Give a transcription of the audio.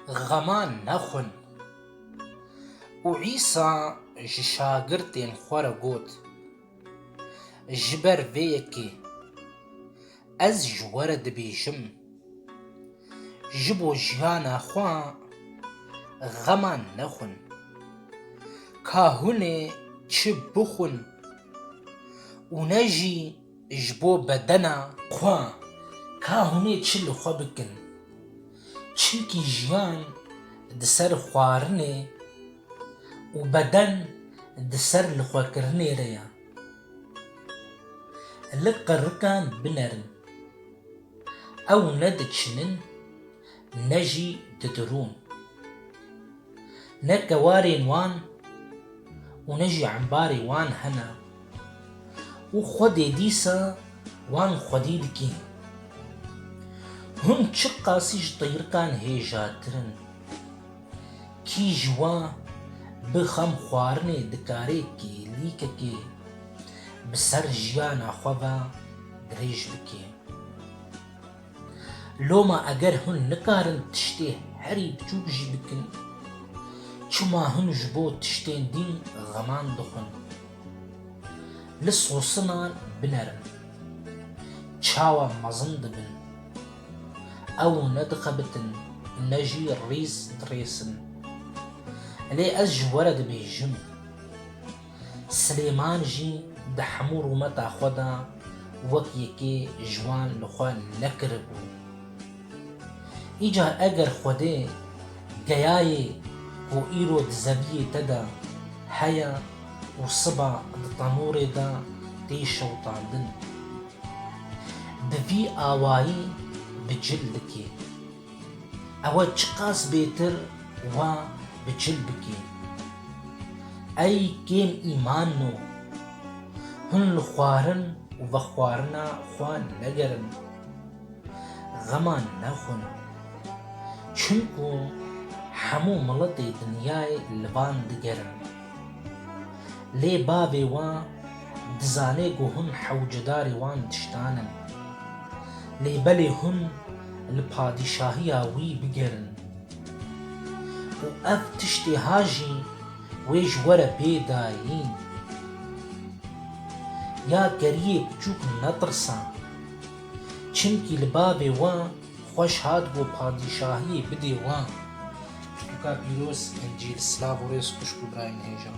Xema nexwin. Û Îsa ji şagirtên xwe re got, Ji ber vê yekê ez ji we re dibêjim, ji bo jiyana xwe xema nexwin. Ka hûn ê çi bixwin û ne jî Ji bo bedena xwe ka hûnê çi li xwe bikin. Çimkî jiyan di ser xwarinê û beden di ser li xwe kirinê re ye. Li qirikan binerin. Ew ne diçinin. ne jî didirûn. Ne tewarên wan û ne jî embarê wan hene û Xwedê dîsa wan xwedî dikîn. Hûn çi qasî ji teyrikan hêjatir in? Kî ji wan bi xem xwarinê dikare kêlîkekê bi ser jiyana xwe ve dirêj bike? Loma eger hûn nikarin tiştê herî biçûk jî bikin, çima hûn ji bo tiştên din xeman dixwin? Li sosinan binerin, çawa mezin dibin. Ew ne dixebitin ne jî rîz dirêsin. Lê ez ji we re dibêjim. Silêman jî di hemû rûmeta xwe de wek yekê ji wan li xwe nekiribû. Îcar eger Xwedê geyayê ku îro di zeviyê te de heye û siba di tenûrê de tê şewitandin, bi vî awayî bi cil dikê. Ew çiqas bêtir va bi çil bikê. Ey kêm îman o. Hûn li xwarin û vexwarina xwe negerin. Xema nexwin. Çimku hemû miletê dinyayê li van digerin. Lê bavê wan dizanê ku hûn hewcedarê wan tiştan in. Lê belê hûn li padîşahiya wî bigerin û ev tiştê ha jî wê ji we re bê dayîn. Ya geriyê piçûk netirsa, çimkî li bavê wan Xweş hat bo padîşahiyê bidê wan. Pirtûka pîroz Encîl silav û rêz xwişk û birayên hêjan.